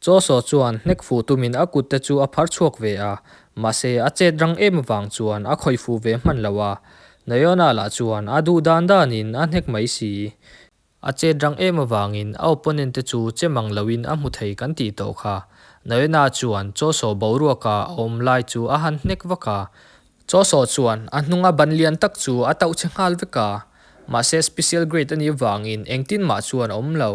Joshua chuan hnek fuh tumin a kutte chu a phar chhuak ve a, mahse, a chet rang em avang chuan a khawih fuh ve hman lo a. Naional ah chuan a duh dan danin a hnek mai si i, a chet rang em avangin a opponent te chu che mang loin a hmu thei kan tih tawh kha. Naiona chuan Joshua boruaka a awm lai chu a han hnek vak a. Joshua chuan a hnunga ban lian tak chu a tauh che nghal vek a, mahse, special grade a nih avangin engtin mah chuan a awm lo.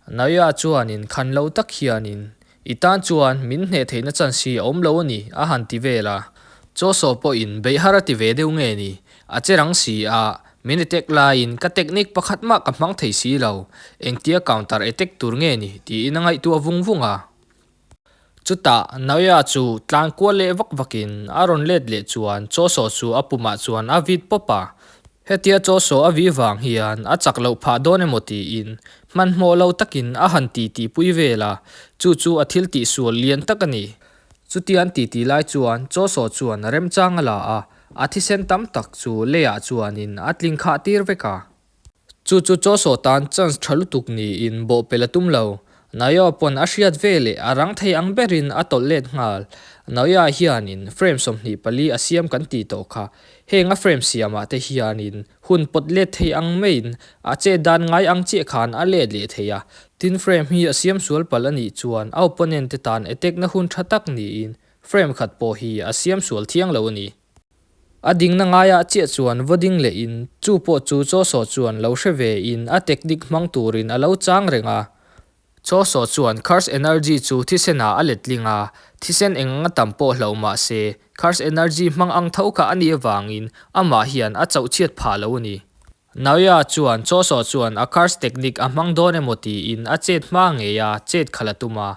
Naia chuanin, Khan lo tak hianin, i tan chuan min hneh theihna chansi a awm lo a ni, a han ti vel a. Joshua pawhin, Beihar a ti ve deuh nge ni? A che rang si a, min i tek laiin ka technique pakhat mah ka hmang thei si lo, engtia counter e tek tur nge ni? tiin a ngaihtu a vung vung a. Chutah Naoya chu tlan kual leh vak vakin a rawn let leh chuan Choso chu a pumah chuan a vit pawp a. Hetia Choso a vih vang hian a chak loh phah dawn emaw tiin hmanhmawh lo takin a han ti tihpui vel a, chu chu a thil tih sual lian tak a ni. Chuti an ti ti lai chuan Choso chuan a remchang a la a, a thisen tam tak chu Leiah chuanin a tling khah tir vek a. Chu chu chaw saw tan chance tha lutuk niin bawhpelh a tum lo. Naoya pawn a hriat ve leh a rang thei ang berin a tawlh let nghal. Naoya hianin frame sawmhnih pali a siam kan tih tawh kha. Heng a frame siamah te hianin hun pawt let thei ang maiin a chet dan ngai ang chiah khan a let leh thei a. Tin frame hi a siam sual palh a nih chuan a opponent te tan attack na hun tha tak niin frame khat pawh hi a siam sual thiang lo a ni. A dingna ngaia a chiah chuan Voding leh in chu pawh chu Chaw Saw chuan lo hre ve in a technique hmang turin a lo chang reng a. Chaw Saw chuan Khars Energy chu thisenah a letling a, thisen eng anga tam pawh hloh mah se, Khars Energy hmang ang tho kha a nih avangin amah hian a chauhchhiat phah lo a ni. Nawiya chuan Chawsaw chuan a Cars Technic a hmang dawn emaw tiin a chet hma ngei a, chet khalh a tum a.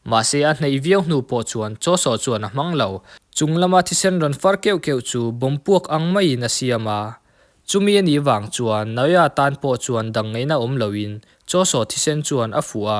Mahse, a hneih viau hnu pawh chuan Chawsaw chuan a hmang lo. Chung lama thisen rawn far keuh keuh chu bawm puak ang maiin a siam a. Chumi a nih vang chuan Nawiya tan pawh chuan dang ngeihna awm loin Chawsaw thisen chuan a fuh a.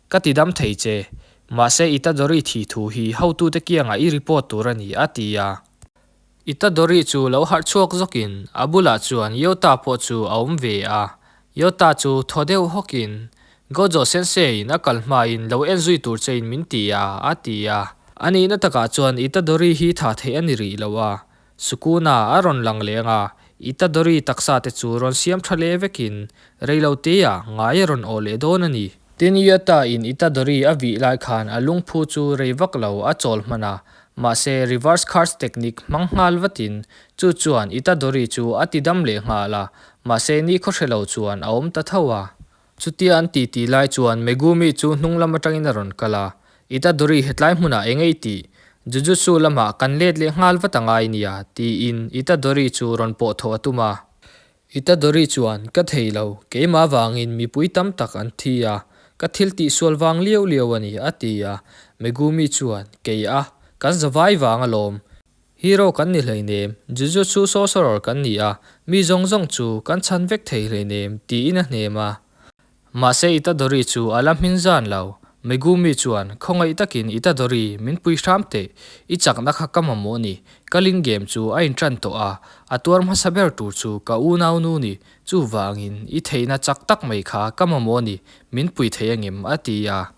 Ka ti dam thei che. Mahse i ta Dory thih thu hi hotute kiangah i report tur a ni, a ti a. I ta Dory chu lo harh chhuak zawkin a bulah chuan Yota pawh chu a awm ve a. Yota chu thaw deuh hawkin, Gojo sensei in a kal hmain lo en zui tur che in min ti a, a ti a. A nihna takah chuan i ta Dory hi tha theih a ni rih lo a, Sukuna a rawn lang leng a, i ta Dory taksa te chu rawn siam tha leh vek in reilo te a ngai a rawn aw leh dawn a ni. Tin i ata in i ta Dory a vih lai khan a lungphu chu rei vak lo a chawl hman a, mahse reverse cards technique hmang nghal vat in chu chuan i ta Dory chu a ti dam leh nghal a, mahse ni khaw hrelo chuan a awm ta tho a. Chutia an ti ti lai chuan Megumi chu hnunglam atangin a rawn kal a, Itadori hetlai hmunah eng a i tih? Jujutsu lamah kan let leh nghal vat anga i nia? tiin Itadori chu rawn pawh tho a tum a. Itadori chuan, Ka thei lo, keimah vangin mipui tam tak an thi a, ka thil tih sual vang lio lio a ni, a ti a. Megumi chuan, Kei a, kan zavai vang alawm. Hero kan ni hleinem, Jujutsu sorcerer kan ni a, mi zawng zawng chu kan chhan vek thei hleinem, tiin a hnem a. Mahse Itadori chu a la hmin zan lo. Megumi chuan, Khawngaih takin Itadori, min pui hram teh. I chakna kha ka mamawh a ni. Ka ling game chu a inṭan tawh a, a tuar hmasa ber tur chu ka unau nu ni. Chuvangin i theihna chak tak mai kha ka mamawh a ni, min pui thei angem? a ti a.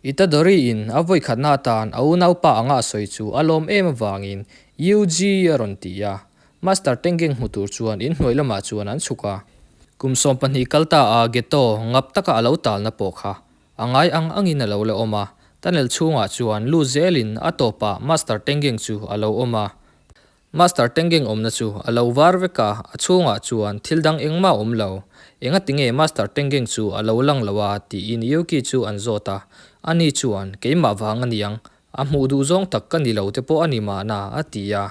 Itadori in a vawikhatna atan a unaupa anga a sawi chu a lawm em avangin UG a rawn ti a, Master Tengeng hmu tur chuan in hnuai lamah chuan an chhuk a. Kum sawm pahnih kal ta a ghetto ngap taka a lo talna pawh kha a ngai ang angin a lo la awm a, tunnel chhungah chuan lut zelin a tawpah Master Tengeng chu a lo awm a. Master Tengeng awmna chu a lo var vek a, a chhungah chuan thil dang engmah a awm lo. Engatinge Master Tengeng chu a lo lang lo a tiin Yogi chu an zawt a, ani chuan keimah vang a niang, a hmuh duh zawng tak ka ni lo te pawh a ni mahna a ti a.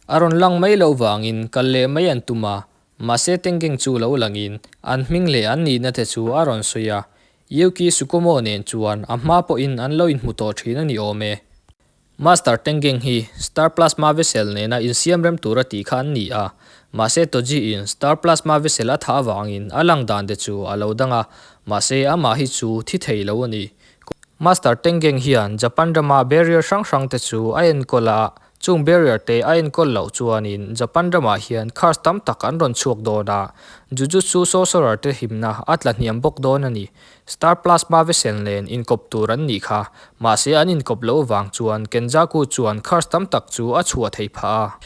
A rawn lang mai lo vangin kal leh mai an tum a, mahse Tengeng chu lo langin an hming leh an nihna te chu a rawn sawi a, Yogi Sukomo nen chuan a hma pawhin an lo inhmu tawh thin a ni awm e. Master Tengeng hi Star Plus Mavesel nena insiam rem tura tih kha an ni a, mahse Toji in Star Plus Mavesel a thah avangin a lang dan te chu a lo dang a, mahse amah hi chu thi thei lo a ni. Master Tengeng hian Japan rama barrier hrang hrang te chu a enkawl a, chung barrier te a enkawl loh chuanin Japan ramah hian curse tam tak an rawn chhuak dawn a, Jujutsu Sorcerer te himna a tlahniam bawk dawn a ni. Star Plus Mavesen len inkawp tur an nih kha, mahse an inkawp loh vang chuan Kenzaku chuan cars tam tak chu a chhuah thei phah a.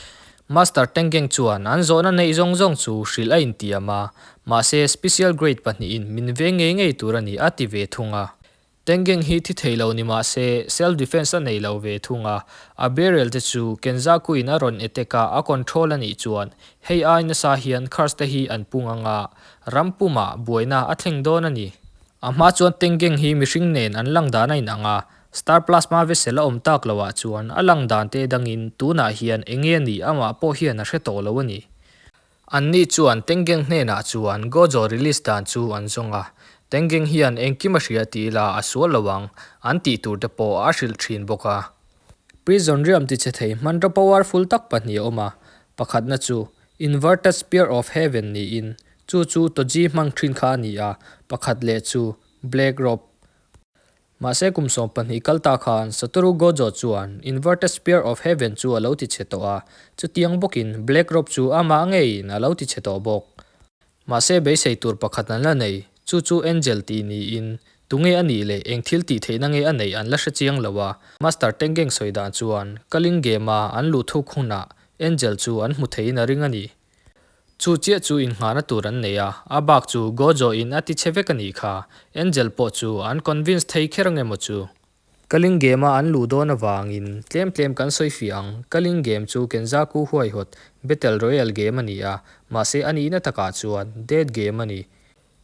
Master Tengeng chuan an zawhna neih zawng zawng chu hrilh a intiam a, mahse Special Grade pahnihin min veng ngei ngei tur a ni a ti ve thung a. Tengeng hi thi thei lo ni mahse Self Defence a nei lo ve thung a, a burial te chu Kenzakuin a rawn attack a a control a nih chuan hei ai nasa hian cars te hi an pung anga Rampuma buaina a thleng dawn a ni. A hma chuan Teng Geng hi mihring nen an lang dan a inang a, Star Plus hma vesel a awm tak lo ah chuan a lang dan te dangin tunah hian eng nge ni amah pawh hian a hre tawh lo a ni. Anni chuan Teng Geng hnenah chuan Gojo release dan chu an zawng a, Teng Geng hian engkim a hria ti ila a sual lo ang, an tih tur te pawh a hrilh thin bawk a. Prison riam ti che thei hmanraw powerful tak pahnih a awm a, pakhatna chu Inverted Spear of Heaven niin, chu chu Toji hmang ṭhin kha a ni a, pakhat leh chu Black Rob. Mahse kum sawm pahnih kal ta khan Satoru Gojo chuan Inverted Spear of Heaven chu a lo ti chhe tawh a, chutiang bawkin Black Rob chu amah ngeiin a lo ti chhe tawh bawk. Mahse beisei tur pakhat an la nei, chu chu angel tih niin, tunge a nih leh eng thil tih theihna nge a neih an la hre chiang lo a, Master Tengeng Soidah chuan Kaling Game a an luhthuk hunah angel chu an hmu theiin a ring a ni. Chu chiah chu inngahna tur an nei a, a bak chu Gojo in a ti che vek a nih kha, angel pawh chu an convince thei kher ang emaw chu. Kaling game-a an luh dawn avangin tlem tlem kan sawi fiah ang. Kaling game chu Kenzaku huaihawt, Battle Royale game a ni a, mahse a nihna takah chuan Dead game a ni.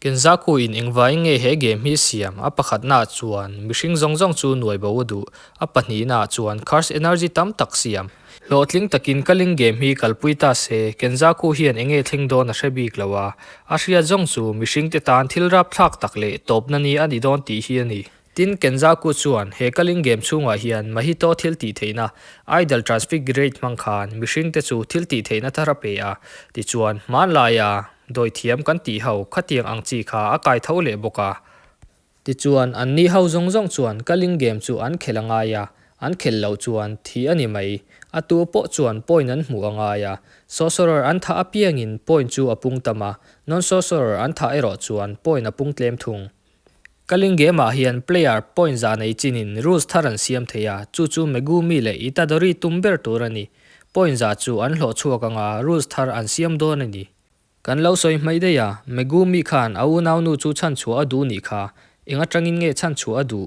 Kenzaku-in engvaiin nge he game hi a siam? A pakhatnaah chuan mihring zawng zawng chu nuai bo a duh, a pahnihnaah chuan Curse Energy tam tak siam. Hlawhtling takin Kaling game hi kalpui ta se, Kenzaku hian eng nge thleng dawn a hre bik lo a, a hriat zawng chu mihringte tan thil rapthlak tak leh tawpna ni a ni dawn tih hi a ni. Tin, Ken Zaku chuan he Kaling Game chhungah hian Mahito thil tih theihna, Idol Transfigurate hmang khan mihringte chu thil tih theihna thar a pe a, tichuan hmanlaia dawithiam kan tih ho khatiang ang chi kha a kai tho leh bawk a. Tichuan, an ni ho zawng zawng chuan Kaling Game chu an khelh a ngai a, an khelh loh chuan thi a ni mai. A tu pawh chuan point an hmuh a ngai a, Sorcerer an thah apiangin point chu a pung tam a, Non-Sorcerer an thah erawh chuan point a pung tlem thung. Kaling game ah hian player point zah nei chin in rules thar an siam thei a, chu chu Megumi leh Itadori tum ber tur a ni. Point zah chu an hlawh chhuak ang a, rules thar an siam dawn a ni. Kan lo sawi hmaih daih a, Megumi khan a unaunu chu chhan chhuah a duh nih kha, eng atangin nge chhan chhuah a duh?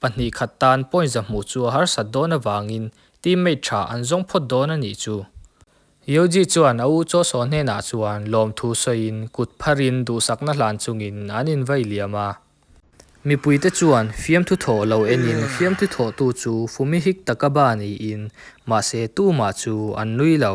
Pahnih khat tan point zahmuh chu a harsat dawn avangin teammate tha an zawng phawt dawn a nih chu. Yoji chuan a u Chawsaw hnenah chuan lawmthu sawiin kut pharin duhsakna hlan chungin an invailiam a. Mipuite chuan fiamthu thawh lo enin fiamthu thawhtu chu fumihik taka ba niin mahse tumah chu an nui lo.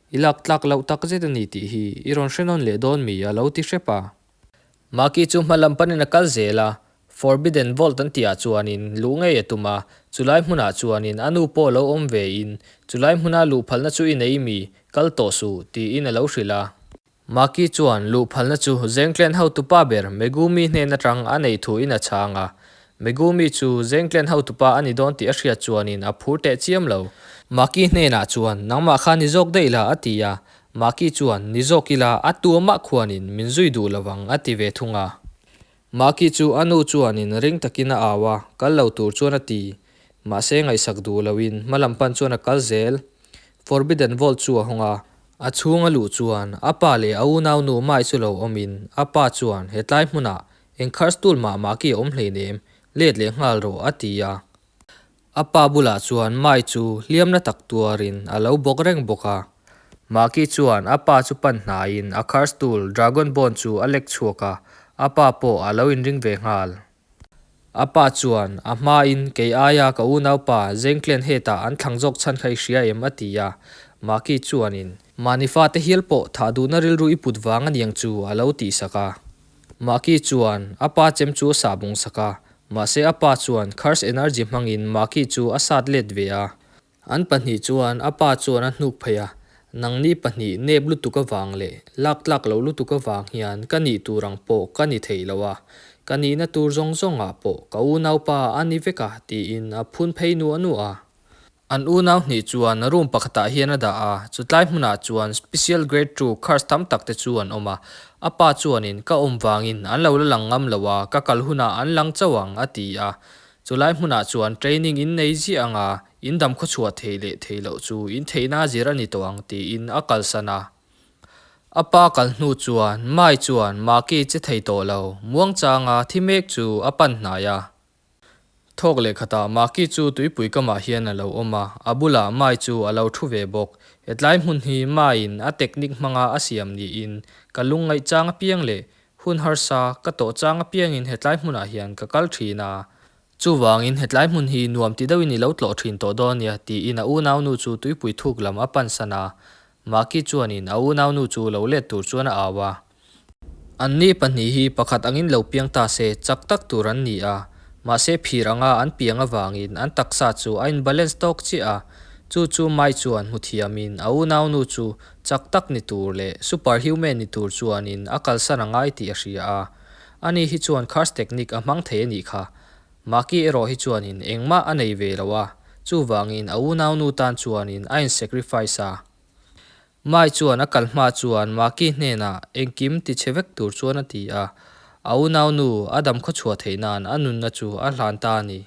I lak tlak loh tak zet a ni tih hi i rawn hre nawn leh dawn mi a lo ti hrep a. Maki chu hma lam panin a kal zel a, Forbidden Vault an tihah chuanin luh ngei a tum a, chulai hmunah chuanin a nu pawh lo awm vein chulai hmuna luh phalna chu i nei mi, kal tawh suh, tiin a lo hrilh a. Maki chuan luh phalna chu zengtlen hotupa ber Megumi hnen atang a neih thu in a chhang a, Megumi chu zengtlen hotupa a ni dawn tih a hriat chuan in a phur teh chiam lo. Maki hnenah chuan nangmah kha ni zawk daih la a ti a, Maki chuan ni zawk ila a tuama khuan in min zui duh lo ang a ti ve thung a. Maki chu a nu chuanin ring takin a au a, kal lo tur chuan a ti. Mahse ngaihsak duh loin hma lam pan chuan a kal zel. Forbidden Vault chu a hawng a. A chhung a luh chuan a pa leh a unau nu Mai chu lo awmin a pa chuan hetlai hmunah eng kharstûl mah Maki a awm hlein em? Let leh nghal rawh, a ti a. A pa bulah chuan Mai chu hliamna tak tuarin a lo bawk reng bawk a. Maki chuan a pa chu pan hnain a khar stool Dragon Bone chu a lek chhuak a, a pa pawh a lo inring ve nghal. A pa chuan a hmain, Kei ai a ka unaupa, Zengtlen heta an thlang zawk chhan kha i hria em? a ti a. Maki chuanin. Mah ni fate hial pawh thah duhna rilru i put vang aniang chu a lo tihsak a. Maki chuan a pa chem chu a sahbawng sak a, mahse a pa chuan Curse Energy hmangin Maki chu a sat let ve a. An pahnih chuan a pa chuan a hnuk phei a, Nangni pahnih nep lutuk avang leh lak tlak loh lutuk avang hian ka nih tur ang pawh ka ni thei lo a, ka nihna tur zawng zawngah pawh ka unaupa a ni vek a, tiin a phun phei nuah nuah a. An unau hnih chuan room pakhatah hian a dah a, chutlai hmunah chuan Special Grade Two Cars tam tak te chu an awm a. A pa chuanin ka awm vangin an lo la lang ngam lo a, ka kal hunah an lang chauh ang, a ti a. Chulai hmunah chuan training in nei ziah anga in dam khawchhuah thei leh thei loh chu in theihna zir a ni tawh ang tiin a kalsan a. A pa kal hnu chuan Mai chuan Maki che thei tawh lo, Muangchanga thi mek chu a pan hnai a, Thawk leh khatah Maki chu tuipui kamah hian a lo awm a, a bulah Mai chu a lo thu ve bawk. Hetlai hmun hi Mai'n a technique hmanga a siam niin ka lung ngaih chang apiang leh hun harsa ka tawh chang apiangin hetlai hmunah hian ka kal thin a, chuvangin hetlai hmun hi nuam ti deuhin i lo tlawh thin tawh dawn nia tiin a unau nu chu tuipui thuk lam a pansan a, Maki chuanin a unau nu chu lo let tur chuan a au a. An ni pahnih hi pakhat angin lo piang ta se chak tak tur an ni a, mahse phir anga an piang avangin an taksa chu a in balance tawk chiah a, chu chu Mai chuan hmu thiamin a unaunu chu chak tak ni tur leh superhuman ni tur chuanin a kalsan a ngai tih a hria a, ani hi chuan Khars technique a hmang thei a nih kha, mahki erawh hi chuanin engmah a nei ve lo a, chuvangin a unaunu tan chuanin a in sacrifice a. Mai chuan a kal hma chuan Maki hnenah engkim ti che vek tur chuan a ti a, a unau nu a dam khawchhuah theih nan a nunna chu a hlan ta a ni.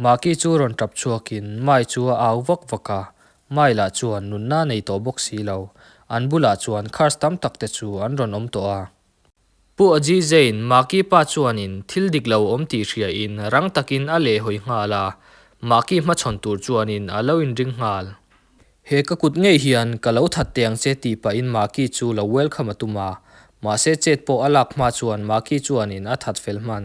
Maki chu rawn tap chhuakin Mai chu a au vak vak a, Mai lah chuan nunna a nei tawh bawk si lo, an bulah chuan cars tam tak te chu an rawn awm tawh a, Pu Ajit Jain, Maki pa chuanin thil dik lo awm tih hriain rang takin a leh hawi nghal a, Maki hmachhawn tur chuanin a lo inring nghal. He ka kut ngei hian ka lo that teh ang che tih pahin Maki chu lo welcome a tum a, mahse chet pawh a lak hma chuan Maki chuanin a that fel hman.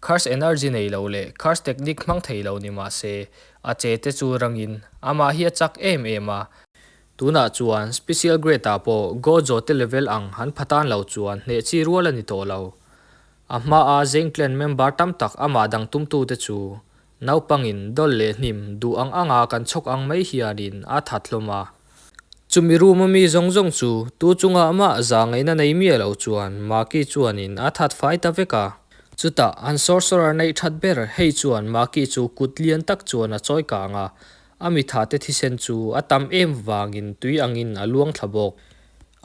Khars energy nei lo leh khars technique hmang thei lo ni mah se, a che te chu rangin amah hi a chak em em a, tunah chuan special grade ah pawh Gojo te level ang han pha tan lo chuan hneh chi rual a ni tawh lo, a hma a Zengtlen member tam tak amah dang tum tu te chu Naupangin dawl leh hnim duh ang anga kan chhawk ang mai hianin a that hlawm a. Chumi ruma mi zawng zawng chu tu chunga mah za ngaina nei mi a lo chuan Maki chuanin a that fai ta vek a. Chutah an sawr sawr a neih that ber. Hei chuan Maki chu kut lian tak chuan a chawi kang a, a mitha te thisen chu a tam em vangin tui angin a luang thla bawk.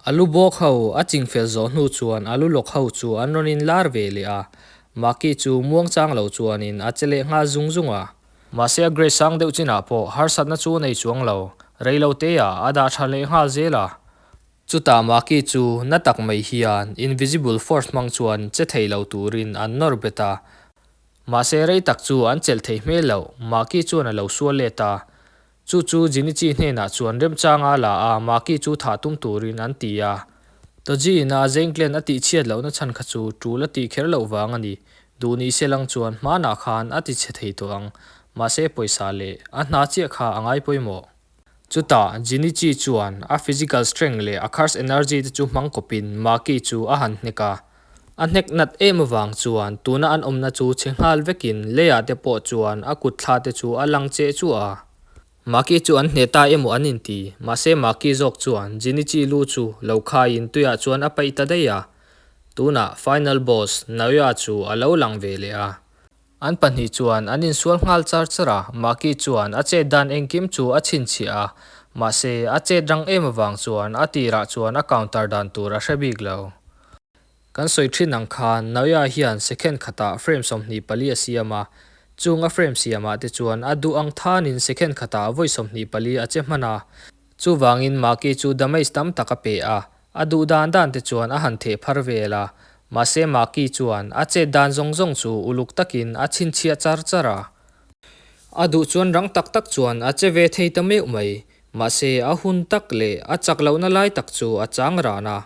A lu bawk ho a ching fel zawh hnu chuan a lu lawk ho chu an rawn in lar ve leh a, Maki chu muangchang lo chuan in a che leh nghal zung zung a. Mahse a grade sang deuh chinah pawh harsatna chu nei chuang lo, rei lo te a, a dah tha leh nghal zel a. Chutah Maki chu na tak mai hian invisible force hmang chuan che thei lo tur in an nawr bet a, mahse rei tak chu an chelh thei hmel lo, Maki chuan a lo sual let a. Chu chu Jinichi hnenah chuan remchang a la a, Maki chu thah tum turin an ti a. Toji ina a zeng Glenn a tih chhiat lohna chhan kha chu tul a tih kher loh vang a ni. Duh ni se lang chuan hmanah khan a ti che thei tawh ang. Mahse pawisa leh a hna chiah kha a ngai pawimawh. Chutah Jinichi chuan a physical strength leh a curse energy te chu hmang kawpin Maki chu a han hnek a. A hnek nat em avang chuan tuna an awmna chu chhe nghal vekin Leia te pawh chuan a kut thla te chu a lang che chu a. Maki chu an hne ta emaw an inti, mahse Maki zawk chuan Jinichi lu chu lo khaiin tuiah chuan a paih ta daih a. Tunah final boss Naoya chu a lo lang ve leh a. An pahnih chuan an insual nghal char char a, Maki chuan a chet dan engkim chu a chhinchhiah a, mahse, a chet rang em avang chuan a tirah chuan a counter dan tur a hre bik lo. Kan sawi thin ang khan Naoya hian second khatah frame sawmhnih pali a siam a, chung a frame siam ah te chuan a duh ang than in second khatah vawi sawmhnih pali a che hman a, chuvangin Maki chu damage tam tak a pe a, A duh dan dan te chuan a han theh phar vel a, mahse Maki chuan a chet dan zawng zawng chu uluk takin a chhinchhiah char char a. A duh chuan rang tak tak chuan a che ve thei ta meuh mai, mahse a hun tak leh a chak lohna lai tak chu a chang ran a.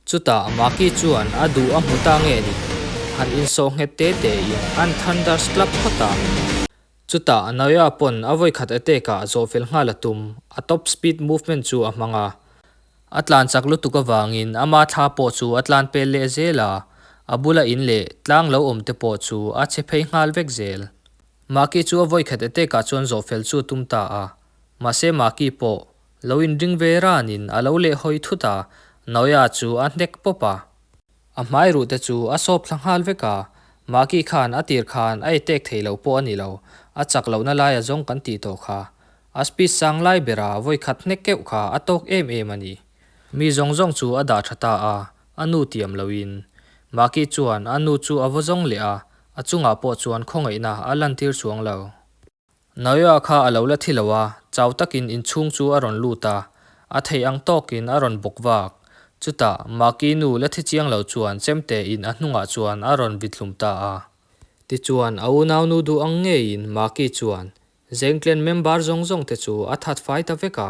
Chutah Maki chuan a duh a hmu ta nge ni? Han insawh nghet te tein an thunder slap phawt a. Chutah a Naoya pawn a vawikhat attack ah zawh fel nghal a tum, a top speed movement chu a hmang a. A tlan chak lutuk avangin ama thla pawh chu a tlan pel leh zel a, a bula in leh tlang lo awm te pawh chu a che phei nghal vek zel. Maki chu a vawikhat attack ah chuan zawh fel chu a tum ta a, mahse Maki pawh lo inring ve ranin a lo leh hawi thut a, Naoya chu a hnek pawp a. A hmai ruh te chu a sawp thla nghal vek a, mahki khan a tir khan a attack thei lo pawh a ni lo, a chak lohna laia zawng kan tih tawh kha. A speed sang lai bera vawi khat hnek keuh kha a tawk em em a ni. Mi zawng zawng chu a dah tha ta a, a nu tiam lo in. Mahki chuan a nu chu a vaw zawng leh a, a chungah pawh chuan khawngaihna a lantir chuang lo. Naoya kha a lo la thi lo a, chau takin inchhung chu a rawn lut a, a theih ang tawkin a rawn bawk vak. Chutah, Maki nu la thi chiang lo chuan chem tein a hnungah chuan a rawn vit hlum ta a. Tichuan, a unau nu duh ang ngeiin Maki chuan Zengtlen member zawng zawng te chu a that fai ta vek a.